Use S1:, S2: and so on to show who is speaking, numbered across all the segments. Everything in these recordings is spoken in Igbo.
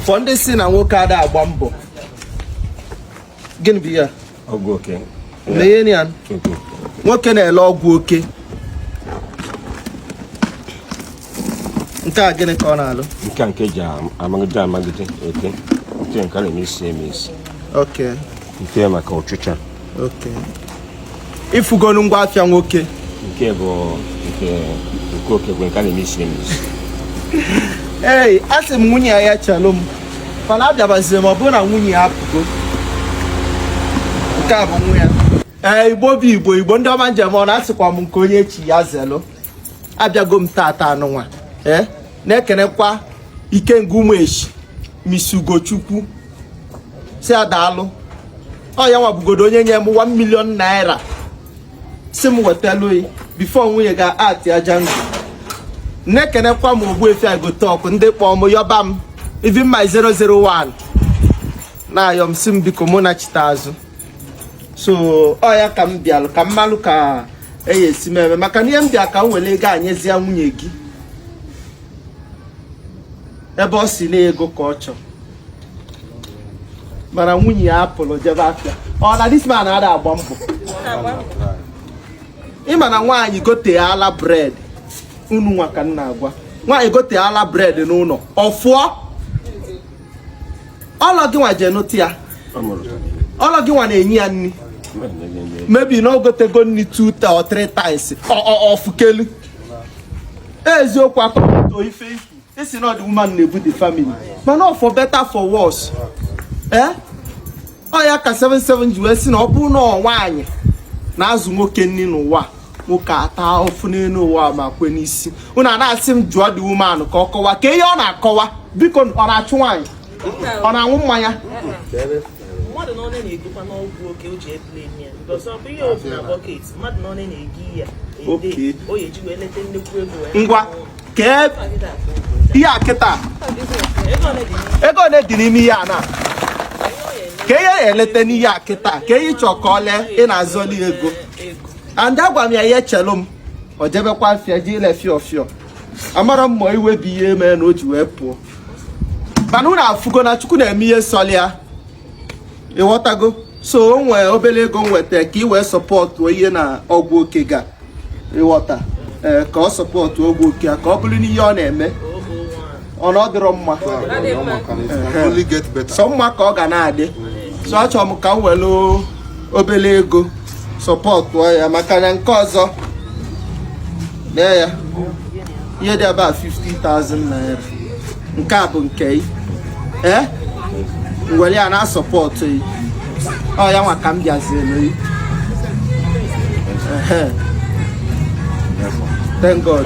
S1: for ndị si na nwoke ada agba mbọ gịnị bụ ihe a ọgwụ oke
S2: lee ya
S1: nwoke na-ele ọgwụ oke nke a gịnị ka ọ na-alụ nke a nke ji
S2: amagide amagide oke nke nke a na-eme isi eme isi oke
S1: nke
S2: maka
S1: ọchịcha ị fụgonu ngwa afịa nwoke
S2: nke bụ nke nke oke bụ nke a na-eme isi emizi
S1: ee asị m nwunye ya chelụ m mana abịabazie m ọ bụrụ na nwunye ya apụgo nke a bụ nwa ya ee Igbo bụ Igbo Igbo ndị ọma m ji eme ọnụ asịkwa m nke onye chi ya zelụ abịago m tata anụnwa ee na-ekenekwa Ikenga ụmụ echi misi Ugochukwu si ya daalụ ọ ya nwa bugodo onye nye m 1 million naira si m wetalụ ị before nwunye ga ati aja ndụ na-ekenekwa m Ogbuefi Agụtọkụ ndị kpọọ m yọba m even my 001 na-ayọ m si m biko m nachite azụ so ọ ya ka m bịalụ ka m malụ ka eyi esi m eme maka na ihe m bịa ka m wele ego a nyezie nwunye gị ebe ọ si na ego ka ọ chọrọ mana nwunye ya apụlụ jebe afịa ọ na this man ada agba mbọ ị ma na nwaanyị gote ala bread unu nwa ka m na-agwa nwaanyị gote ala bread n'ụlọ ọfụọ ọlọ gị nwa jee nụta ya ọlọ gị nwa na-enye ya nri maybe na o gotego nri two or three times ọfụkelu eziokwu akọkọto ife ikwu e si na ọ the woman na-ebu the family mana ọ for better for worse ee ọ ya ka 77 ji wee si na ọ bụrụ na ọ nwaanyị na-azụ nwoke nri n'ụwa nwoke ata ofu n'elu ụwa ma kwe n'isi unu a na-asị m jụọ the woman ka ọ kọwa ka ihe ọ na-akọwa biko ọ na-achụ nwaanyị ọ na-aṅụ mmanya
S3: mmadụ na ọnụ na-egokwanụ ọgwụ oke o ji eple ya because ọ bụ ihe ọ fụ na bucket mmadụ na ọnụ na-egi ya ede Okay. o ya eji wee leta nnekwu ego wee ngwa
S1: kee ihe a kịta ego ole dị n'ime ihe a na kee ihe ọ ya-eleta n'ihe a kịta kee ihe ị chọ ka ọ lee ị na-azọli ego and agwa m ya ya chelu m ọ jebekwa afịa jee ile fịọ fịọ amarọ m ma iwe bụ ihe mee na o ji wee pụọ mana unu afụgo na Chukwu na-eme ihe sọlị ya ịghọtago so o nwe obele ego m weta ka ị wee support ihe na ọgwụ oke gị a ịghọta ee ka ọ support ọgwụ oke a ka ọ bụrụ na ihe ọ na-eme ọ na ọ dịrọ mma so mma ka ọ ga na-adị so achọrọ m ka m wele obele ego sọpọtụọ ya maka na nke ọzọ nee ya ihe dị ebe a 50,000 naira nke a bụ nke ị ee m were ya na-asọpọtụ ị ọ ya nwa ka m bịazielu ị thank god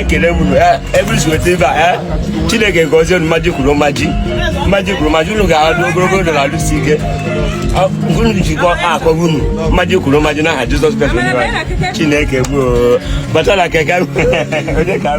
S2: ekele m ebrisiwetebe a chineke gozie unu mmaji kwuru mmaji mmaji kwuru mmaji unu ga-adị ogologo ndụ na arụ isi ike unu jikọ akọghị unu mmaji kwuru mmaji n'aha jizọs kraịst chineke gboo batala keke onye ka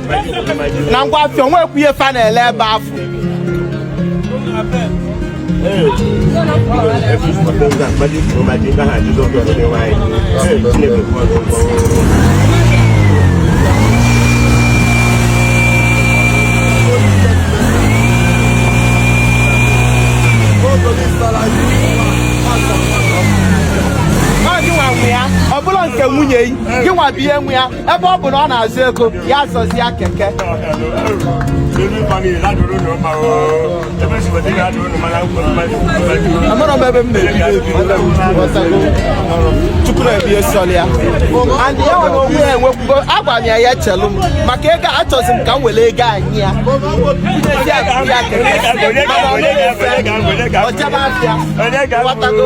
S1: na ngwa afịa o nwekwu ihe fa na-ele ebe afụ Ọ gị nwa nwe ya ọ bụrọ nke nwunye yi gị nwa bụ ihe nwe ya ebe ọ bụ na ọ na-azụ ego ya zụzie keke amara m ebe m na-ebichukwu na-ebihe sọl ya and ya nwere onwe ya enwekwugo agwa m ya ya chelu m maka ego a achọzi m ka m were ego anyị ya ezi akụ ya keke mana ọ naghị efe ọjaba afịa ị ghọtago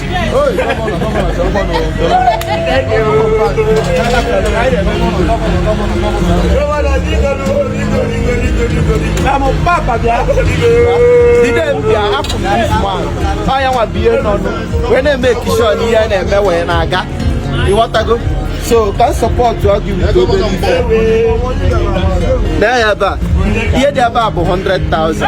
S1: nwa bụ ihe nọ wee na-eme ekishọn ihe a na-eme wee na-aga ị ghọtago so ka m sọpọtụọ gị with obere ife nee ya ebe a ihe dị ebe a bụ 100,000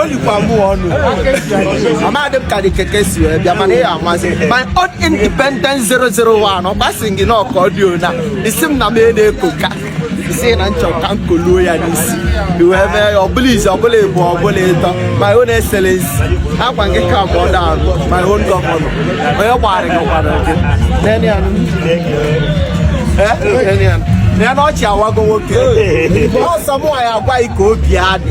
S1: o likwa mụ ọnụ amadị m ka dị keke si wee bịa mana ya amasị my own independent 001 ọ gbasị gị na ọka ọdịo na isi m na m na-eko ka isi na nchọ ka m koluo ya n'isi wee mee ya ọ bụrọ izi ọ bụrọ ịbụa ọ bụrọ ịtọ my own excellency agwa gị ka m ọda arụ my own gọvanọ onye gbara gị gwara gị nene ya nụ. Eh, nene ya nụ. nene ọchị awago nwoke ọsọ mụ ya agwa gị ka obi adị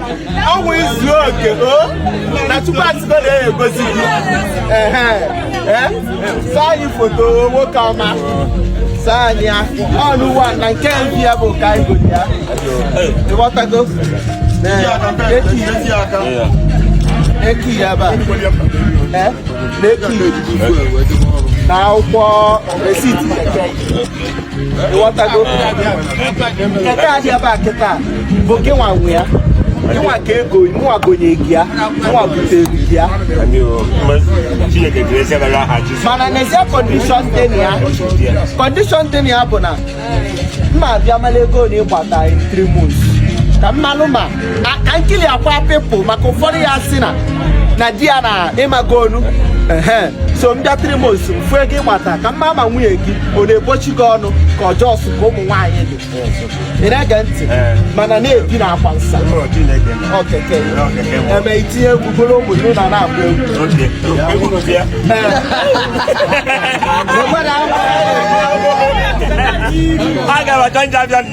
S1: ọnwụ izu oke o na tupu atụgo na-egozi gị ehe ee saa anyị foto nwoke ọma saa anyị ya ọnụ ụwa na nke mpi ya bụ ka anyị gote ya ịghọtago keke ya ba ee na eki na akwụkwọ receipt ịghọtago nke a dị ebe a kịta bụ gị nwa nwe ya nwa ka ego nwa gonye gị ya nwa butere gị ya mana n'ezie condition dị na ya condition dị na ya bụ na m na-abịa mara ego na ịgbata in three months ka m malụ ma ka nkili akwa people maka ụfọdụ ya si na na di ya na ịmago onu so m bịa three months m fụ ego ị gbata ka m maa ma nwunye gị ọ na-egbochi gị ọnụ ka ọjọọ sụ ka ụmụ nwaanyị dị ị na-ege ntị mana na-ebi na akwa nsa keke eme i tinye egwu buru ụmụ gị na na-agba egwu
S2: Ee.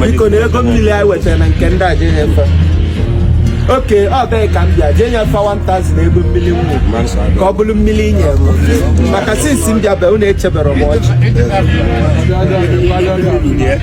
S1: biko na ego mmiri anyị wetara na nke ndị aja efe okay ọ bụghị ka m bịa jee nyefe 1000 ego mmiri ṅụọ ka ọ bụrụ mmiri i nye m maka since m bịa be unu echeberọ m ọjị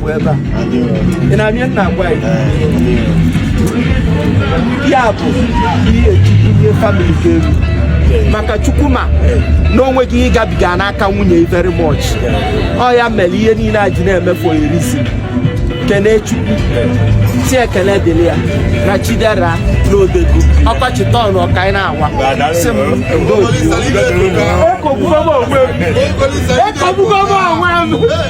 S1: ebe a ị na-abịa nna agwa ya ya bụ ihe chukwu ihe family ga-eru maka chukwu ma na o nweghị ihe gabiga n'aka nwunye very much ọ ya mere ihe niile a ji na-eme for a reason kene chukwu sị ekele dịrị ya na chidera na odego ọkọchị tọn ọka anyị na-anwa sị m ndo Ekwugbugo m onwe m. Ekwugbugo m onwe m.